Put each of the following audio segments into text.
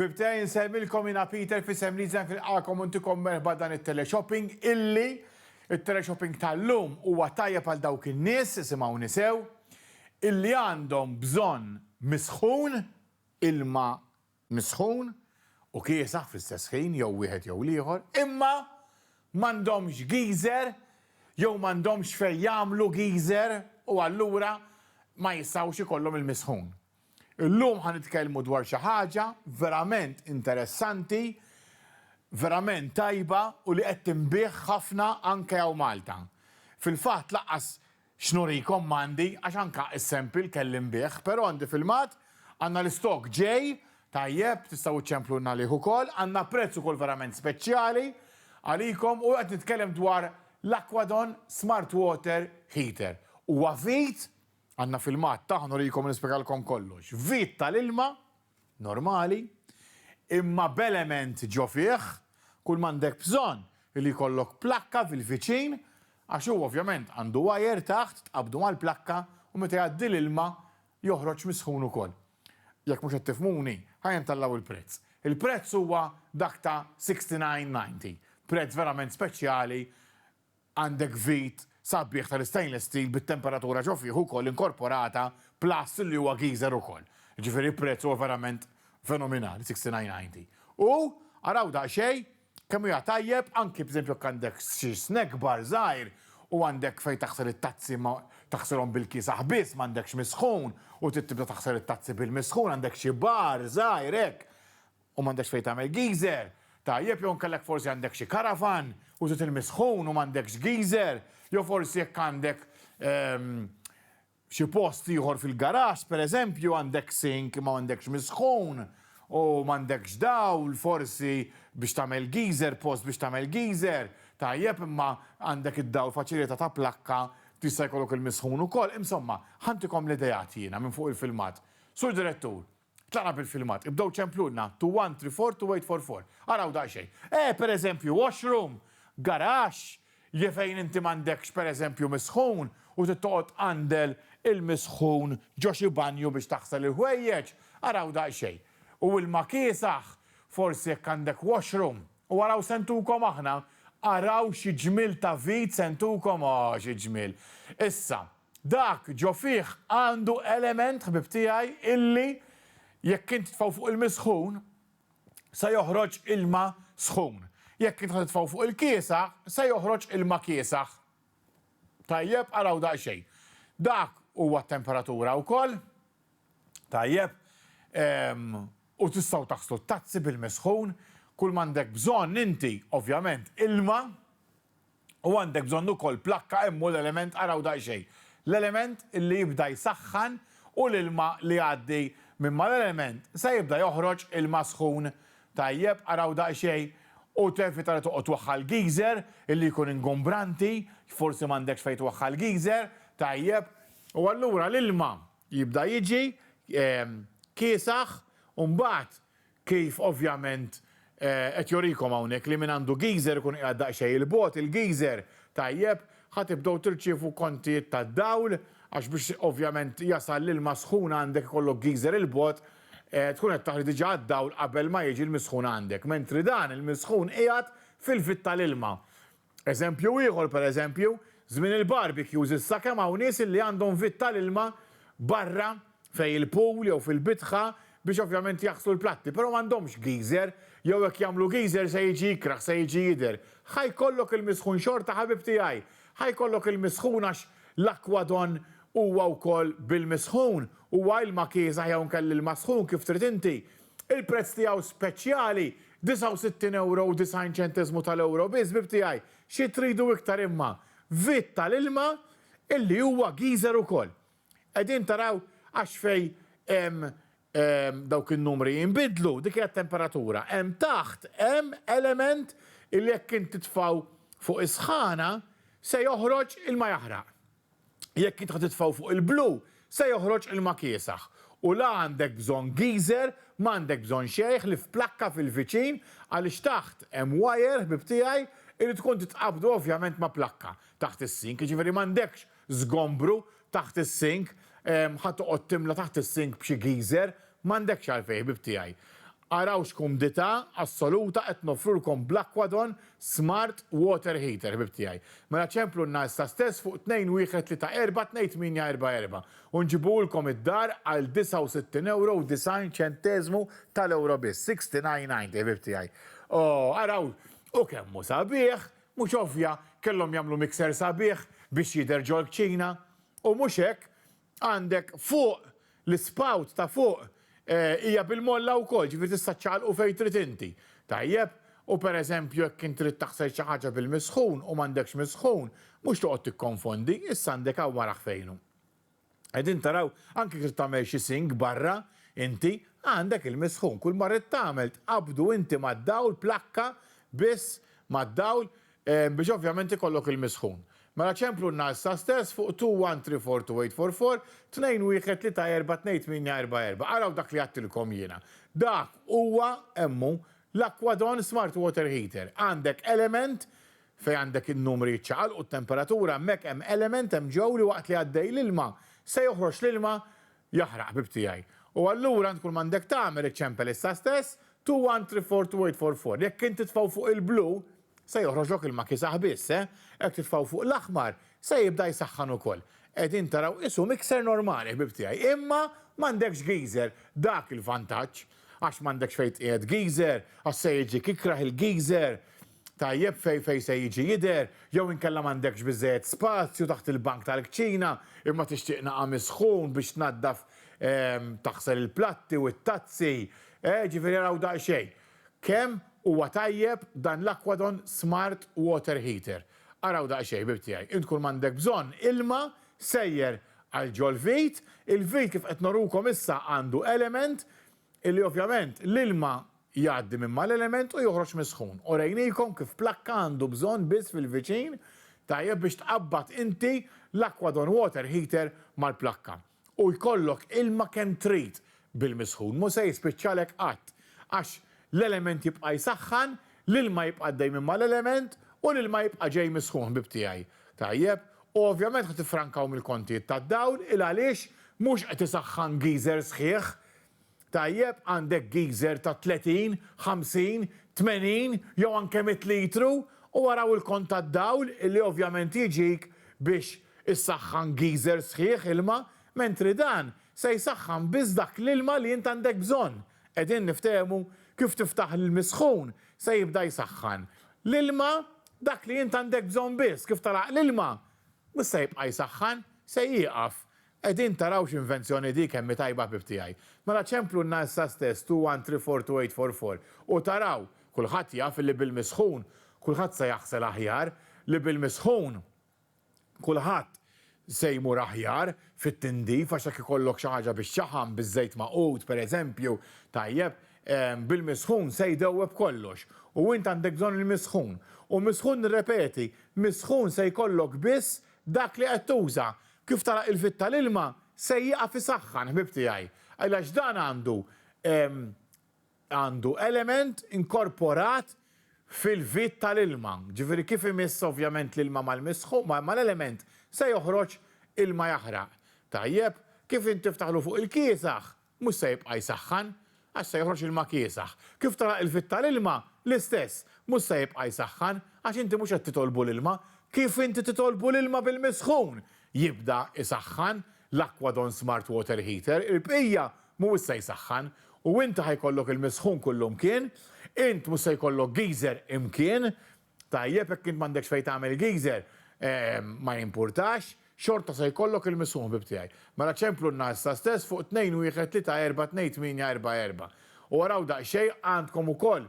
Bibtej insellmilkom jiena Peter f'isem Leeds Life nilqagħkom u ntikom merħba dan it-teleshopping illi it-teleshopping tal-lum huwa tajjeb għal dawk in-nies, isimgħuni sew, illi għandhom bżonn misħun, ilma misħun u kiesaħ fl-istess ħin jew wieħed jew l-ieħor, imma m'għandhomx geyser jew m'għandhomx fejn jagħmlu geyser u allura ma jistgħux ikollhom il-misħun. Illum ħa nitkellmu dwar xi ħaġa verament interessanti, verament tajba u li qed tinbiegħ ħafna anke hawn Malta. Fil-fatt laqqas x'nurikom m'għandi għax anke is-sample kelli nbiegħ, però għandi filmat, għandna l-istock ġej, tajjeb, tistgħu ċċemplulna għalih ukoll, għandna prezz ukoll verament speċjali għalikom u qed nitkellem dwar l-Aquadon Smart Water Heater. Huwa vit Għandna filmat tagħha nurikom nispjegalkom kollox. Vit tal-ilma, normali, imma b'element ġo fih, kull m'għandek bżonn hi li jkollok plakka fil-viċin għax hu ovvjament għandu wire taħt tqabbdu mal-plakka u meta jgħaddi l-ilma joħroġ misħun ukoll. Jekk mhux qed tifhmuni, ħa jintgħallaw il-prezz. Il-prezz huwa dak ta' 69.90. Prezz verament speċjali Għandek vit sabiħ tal-istainless steel bit-temperatura ġo fih ukoll inkorporata plus li huwa geyser ukoll. Jiġifieri prezz huwa verament fenominali, 69.90. U araw daqsxejn kemm huja tajjeb anki b'żempju jekk għandek xi snack bar żgħir u għandek fejn taħsel it-tazzi ma taħsilhom bil-kiesaħ biss m'għandekx misħun u trid tibda taħsel it-tazzi bil-misħun għandek xi bar żgħir hekk U m'għandekx fejn tagħmel geyser? Tajjeb, jew inkellek forsi għandek xi karavan u trid ilmi sħun u m'għandekx geyser, jew forsi jekk għandek xi post ieħor fil-garaxx, pereżempju, għandek sink imma m'għandekx misħun u m'għandekx dawl forsi biex tagħmel geyser, post biex tagħmel geyser. Tajjeb, imma għandek id-dawl faċilità ta' plakka tista' jkollok ilmi sħun ukoll. Insomma, ħantikom l-ideat jiena minn fuq il-filmat. Sur Direttur, Tlaqna bil-filmat. Ibdew ċemplulna, to one, three, four, to eight, four, four. Araw daqsxejn. Eh, per eżempju, washroom, garaxx, je fejn inti m'għandekx per eżempju misħun u trid toqgħod tqandel il-misħun ġo xi banju biex taħsel il-ħwejjeġ, araw daqsxejn. U ilma kiesaħ, forsi jekk għandek washroom. U araw se ntukom aħna, araw xi ġmiel ta' vid se ntukom, oh xi ġmiel. Issa, Dak ġo fih għandu element, ħbieb tiegħi, illi jekk int titfgħu fuq il-misħun, se joħroġ ilma sħun. Jekk int ħa titfgħu fuq il-kiesaħ, se joħroġ ilma kiesaħ. Tajjeb, araw daqsxejn. Dak huwa t-temperatura wkoll. Tajjeb. U tistgħu taħslu t-tazzi bil-misħun. Kull m'għandek bżonn inti, ovvjament, ilma. u għandek bżonn ukoll plakka hemm hu l-element araw daqsxejn l-element li jibda jsaħħan u l-ilma li jgħaddi minn mal-element se jibda joħroġ ilma sħun tajjeb araw daqsxejn u tevita li toqgħod twaħħal geyser illi jkun ingombranti forsi m'għandekx fejn twaħħal geyser tajjeb u allura l-ilma jibda jiġi kiesaħ u mbagħad Kif ovvjament qed jorikom hawnhekk li min għandu geyser ikun qiegħed daqsxejn 'il bogħod, il-geyser, tajjeb, ħa tibdew tirċievu kontijiet tad-dawl għax biex ovvjament jasal l-ilma sħun għandek ikollok geyser 'il bogħod, tkun qed taħli diġà għad-dawl qabel ma jiġi l-misħun għandek, mentri dan il-misħun qiegħed fil-vitt tal-ilma. Eżempju ieħor, pereżempju, żmien il-barbecues issa kemm hawn nies illi għandhom vit tal-ilma barra fejn il-pool jew fil-bitħa biex ovvjament jaħslu l-platti, però m'għandhomx geyser, jew jekk jagħmlu geyser se jiġi ikrah, se jiġi jidher. Ħa jkollok il-misħun xorta ħabib tiegħi, ħa jkollok il-misħun għax l-aquadon huwa wkoll bil-misħun, huwa ilma kiesaħ jew inkella ilma sħun kif trid inti, Il-prezz tiegħu speċjali, 69 ewro u 90 ċenteżmu tal-ewro biss, bib tiegħi, xi tridu iktar imma vit tal-ilma illi huwa geyser ukoll. Qegħdin taraw għax fejn hemm dawk in-numri jinbidlu, dik hija t-temperatura. Hemm taħt hemm element illi jekk int titfgħu fuq is-sħana se joħroġ ilma jaħraq. jekk int ħa titfgħu fuq il-blu se joħroġ ilma kiesaħ u la għandek bżonn geyser, m'għandek bżonn xejħ li f'plakka fil-viċin għaliex taħt hemm wajer ħbieb tiegħi irid tkun titqabdu ovvjament ma' plakka taħt is-sink jiġifieri m'għandekx żgombru taħt is-sink ħa toqgħod timla taħt is-sink b'xi geyser m'għandekx għalfejn ħbieb tiegħi. Araw x'kumdità assoluta qed noffrulkom bl-Aquadon Smart Water Heater, ħbieb tiegħi. Mela ċemplulna issa stess fuq 2-1-3-4 2-8-4-4 u nġibuhulkom id-dar għal €69 u 90 ċenteżmu tal-ewro biss, 69.90 ħbieb tiegħi. Oh, araw! U kemm hu sabiħ! Mhux ovvja, kellhom jagħmlu mixer sabiħ biex jidher ġol-kċina. U mhux hekk, Għandek fuq, l-ispout ta' fuq hija bil-molla wkoll, ġifieri tista' ċċaqalqu fejn trid inti. Tajjeb? U pereżempju jekk int trid taħsel xi ħaġa bil-misħun u m'għandekx misħun, mhux toqgħod tikkonfondi, issa għandek hawn wara ħfejnu. Qegħdin taraw, anke jekk trid tagħmel xi sink barra inti, għandek il-misħun. Kulma rrid tagħmel tqabbdu inti mad-dawl plakka biss mad-dawl biex ovvjament ikollok il-misħun. Mela ċemplunna issa stess fuq 2134244, tnejn wieħed tlieta erba' tnejn tmienja erba' erba'. Araw dak li għadtilkom jiena. Dak huwa, hemm hu, l-Aquadon Smart Water Heater. Għandek element, fejn għandek in-numri jiċċaqalqu, t-temperatura, hemmhekk hemm element hemm ġew li waqt li għaddej l-ilma, se joħroġ l-ilma Jaħraq, ħbib tiegħi. U allura int kull m'għandek tagħmel iċċempel issa stess, two one three four two eight four four. Jekk int titfgħu fuq il-blu, se joħroġlok ilma kiesaħ biss, eh. Jekk titfgħu fuq l-aħmar, se jibda jsaħħan ukoll. Qegħdin taraw, qisu mixer normali, ħbib tiegħi. Imma m'għandekx geyser, dak il-vantaġġ. Għax m'għandekx fejn tqiegħed geyser, għax se jiġik ikrah il-geyser. Tajjeb fejn fejn se jiġi jidher, jew inkella m'għandekx biżżejjed spazju taħt il-bank tal-kċina imma tixtieq nagħam is-sħun biex tnaddaf taħsel il-platti u t-tazzi, eh, ġifieri araw daqsxejn kemm huwa tajjeb dan l-Aquadon Smart Water Heater. Araw daqsxejn, ħbieb tiegħi, int kull m'għandek bżonn ilma sejjer għal ġol-vit, il-vit kif qed norukom issa għandu element Illi ovvjament l-ilma jgħaddi minn mal-element u joħroġ mis-sħun. Orejniekom kif plakka għandu bżonn biss fil-viċin tajjeb biex tqabbad inti l-Aquadon Water Heater mal-plakka. U jkollok ilma kemm trid bil-misħun, mhu se jispiċċalek qatt. Għax l-element jibqa' jsaħħan, l-ilma jibqa' għaddej minn mal-element u l-ilma jibqa' ġej mis-sħun ħbieb tiegħi. Tajjeb? U ovvjament ħa tiffrankaw mill-kontijiet tad-dawl il għaliex mhux qed isaħħan geyser sħiħ Tajjeb, għandek geyser ta' 30, 50, 80 jew anke 100 litru u araw il-kont tad-dawl li ovvjament jiġik biex issaħħan geyser sħiħ ilma mentri dan se jsaħħan biss dak l-ilma li int għandek bżonn. Qegħdin niftehmu? Kif tiftaħ l-ilm is-sħun se jibda jsaħħan l-ilma dak li int għandek bżonn biss, kif telgħaq l-ilma mhux se jibqa' jsaħħan, se jieqaf. Qegħdin taraw x'invenzjoni di kemm hi tajba ħbieb tiegħi. Mela ċemplulna issa stess two one three four two eight four four u taraw, kulħadd jaf illi bil-misħun kulħadd se jaħsel aħjar, li bil-misħun kulħadd se jmur aħjar fit-tindif għax jekk ikollok xi ħaġa biex ċaħam biż-żejt magħqud pereżempju, tajjeb, bil-misħun se jdewweb kollox u int għandek bżonn il-misħun u misħun nirrepeti, misħun se jkollok biss dak li qed tuża! Kif tara il-fit tal-ilma se jieqaf isaħħan, ħbieb tiegħi, għax dan għandu għandu element inkorporat fil-fit tal-ilma. Ġifieri kif imiss ovvjament l-ilma mal-misħu, mal-element, se joħroġ ilma jaħraq. Tajjeb, kif int tiftaħlu fuq il-kiesaħ, Mhux se jibqa' jsaħħan, għax se joħroġ ilma kiesaħ. Kif tagħlaq il-fitt tal-ilma, l-istess, mhux se jibqa' jsaħħan, għax inti mhux qed titolbu l-ilma. Kif inti titolbu l-ilma bil-misħun, jibda jsaħħan, l-Aquadon Smart Water Heater, il-bqija mhuwiex se jsaħħan. U inti ħa jkollok il-misħun kull imkien, int mhux se jkollok geyser imkien, Tajjeb, jekk int m'għandekx fejn tagħmel geyser, ma jimpurtax, xorta se jkollok il-misħun ħbieb tiegħi. Mela ċemplunna issa stess fuq 2-1-3-4-2-8-4-4. U araw daqsxejn, għandkom ukoll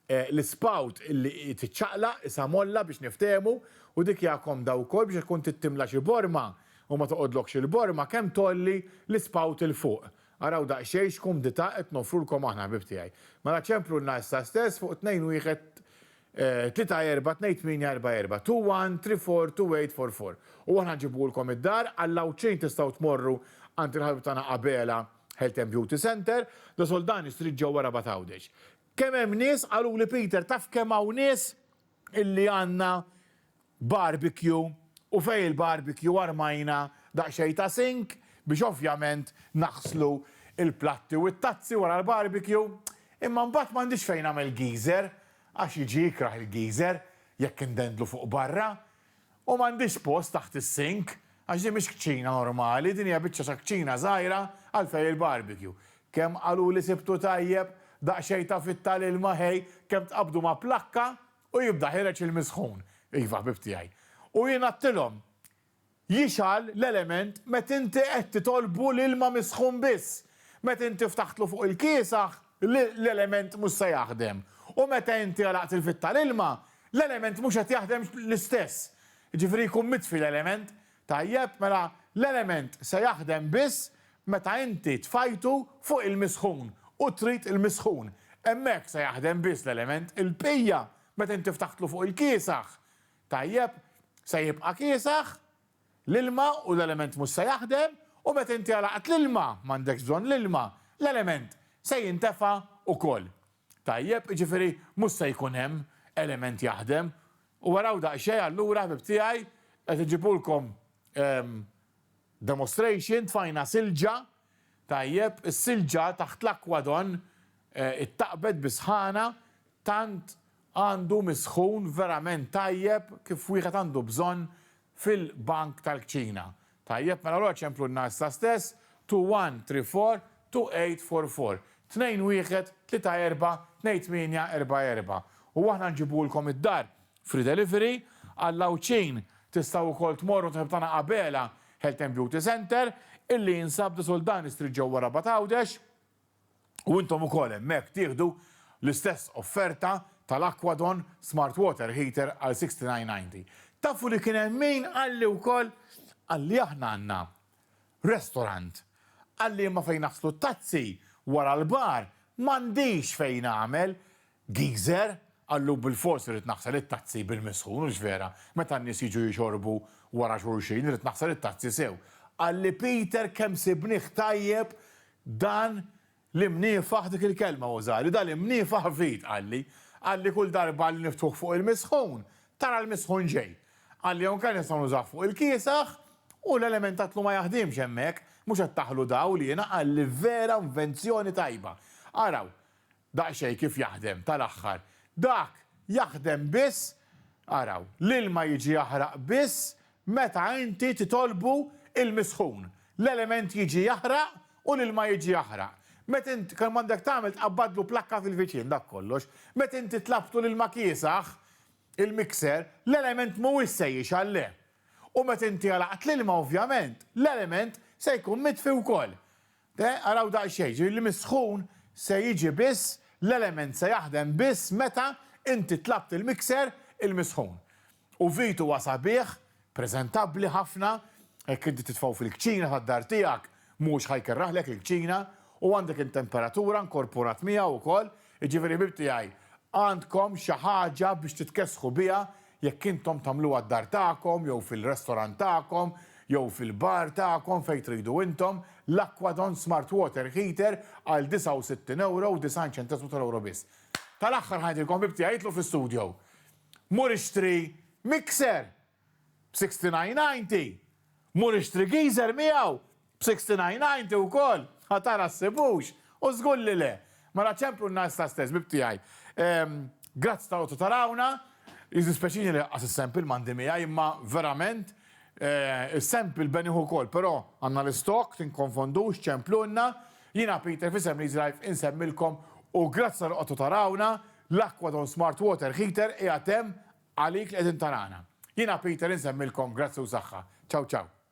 l-ispout li tiċċaqlaq, isha molla biex niftehmu, u dik hija komda wkoll biex jekk tkun trid timla xi borma u ma toqgħodlokx il-borma, kemm tgħolli l-ispout 'il fuq. Araw daqsxejn x'kumdità qed noffrulkom aħna ħbieb tiegħi. Mela ċemplunna issa stess fuq 2-1 Tlieta erba' tnejn tmienja erba' erba' two one three four two eight four four u aħna nġibuhulkom id-dar, għall-Għawdxin tistgħu tmorru għand il-ħabib tagħna Abela Health and Beauty Centre, The Soldani Street ġewwa Rabat Għawdex. Kemm hemm nies, qaluli Peter taf kemm hawn nies illi għandna barbecue u fejn il-barbecue armajna daqsxejn ta' sink biex ovvjament naħslu l-platti u t-tazzi wara l-barbecue imma mbagħad m'għandix fejn nagħmel geyser għax jiġi jikrah il-geyser jekk indendlu fuq barra u m'għandix post taħt is-sink għax din mhix kċina normali din hija biċċa ta' kċina żgħira għal fejn il-barbecue. Kemm qaluli sibtu tajjeb, daqsxejn ta' fitta l-ilma ħej, kemm tqabbdu ma' plakka, U jibda' ħireġ il-misħun, iva, ħbieb tiegħi. U jien għadtilhom, Jixgħal l-element meta inti qed titolbu l-ilma misħun biss. Meta inti ftaħtlu fuq il-kiesaħ, l-element mhux se jaħdem. U meta inti għalaqt il-fitt tal-ilma, l-element mhux qed jaħdem l-istess. Jiġifieri jkun mitfi l-element, Tajjeb, mela l-element se jaħdem biss meta inti tfajtu fuq il-misħun u trid il-misħun. Hemmhekk se jaħdem biss l-element. Il-bqija, meta inti ftaħtlu fuq il-kiesaħ, tajjeb, se jibqa' kiesaħ, l-ilma u l-element mhux se jaħdem, u meta inti għalaqt l-ilma, m'għandekx bżonn l-ilma, l-element se jintefa' ukoll. Tajjeb, jiġifieri mhux se jkun hemm element jaħdem. U araw daqsxejn allura ħbieb tiegħi qed iġibulkom demonstration, tfajna silġa, tajjeb, is-silġa taħt l-akwadon ittaqbet bi sħana, tant għandu misħun verament tajjeb kif wieħed għandu bżonn fil-bank tal-kċina. Tajjeb, mela allura ċemplu n-ngħa issa stess, two one three four, two eight four four, tnejn wieħed, tlieta erbgħa, tnejn tmienja, erbgħa erbgħa. U aħna nġibuhulkom id-dar, free delivery, għall-Għawdxin tistgħu wkoll tmorru għand il-ħabib tagħna Abela Health and Beauty Centre, illi jinsab Desuldan Street ġewwa Rabat Għawdex. u intom ukoll hemmhekk tieħdu l-istess offerta tal-Aquadon Smart Water Heater għal 69.90. Tafu li kien hemm min qalli wkoll qalli aħna għandna restorant, qalli imma fejn naħslu t-tazzi wara l-bar m'għandix fejn nagħmel Geyser? Qallu Bilfors irrid naħsel it-tazzi bil-misħun, hux vera? Meta n-nies jiġu jixorbu wara xulxin, irrid naħsel it-tazzi sew. Qalli Peter kemm sibnih tajjeb dan l-imniefaħ dik il-kelma użali, dan l-imniefaħ vit, qalli. Qalli kull darba li niftuh fuq il-misħun, tara l-misħun ġej. Qalli hawn kan nistgħu nużawh fuq il-kiesaħ u l-element tat-tlu ma jaħdimx hemmhekk, mhux qed taħlu dawl jiena, qalli vera invenzjoni tajba. Araw, Daqsxejn kif jaħdem tal-aħħar. Dak jaħdem biss, araw, l-ilma jiġi jaħraq biss meta inti titolbu l-misħun. L-element jiġi jaħraq u l-ilma jiġi jaħraq. Meta int, kemm għandek tagħmel tqabbadlu plakka fil-viċin, dak kollox. Meta inti tlabtu l-ilma kiesaħ, il-mixer, l-element mhuwiex se jixgħal, le. U meta inti għalaqt l-ilma ovvjament, l-element se jkun mitfi wkoll. Eh, araw daqsxejn, jiġifieri li mis-sħun se jiġi biss, l-element se jaħdem biss meta inti tlabt il-mixer il-misħun. U vit huwa sabiħ, preżentabbli ħafna, jekk inti titfgħu fil-kċina tad-dar tiegħek mhux ħa jkerraħlek il-kċina u għandek in-temperatura nkorporat miegħu wkoll, jiġifieri ħbib tiegħi għandkom xi ħaġa biex titkessħu biha Jekk intom tagħmluha d-dar tagħkom jew fil-restorant tagħkom jew fil-bar tagħkom fejn tridu intom, l-Aquadon Smart Water Heater għal 69 ewro u 90 ċentesmu tal-ewro biss. Tal-aħħar ħa ngħidilkom ħbib tiegħi itlu' fi studio. Mur ixtri mixer b'69.90, mur ixtri geyser miegħu B'sixtynighnajnti wkoll? A tara ssibux? U żgur li le! Mela ċemplu n-nagħsta stess, ħbib tiegħi. Ehm, grazzi ta' qogħdu tarawna. Jiddispjaċini li laqqas is-sample m'għandi miegħi imma verament eh, is-sample benih ukoll però għandna l-istock, tinkonfondux, ċemplulna. Jiena Peter f'isem Leeds Life insemmilkom u grazzi tal-li qogħdu tarawna, l-Aquadon Smart Water Heater qiegħed hemm għalik li qegħdin tarana. Jiena Peter insemmilkom grazzi u saħħa. Ciao ciao.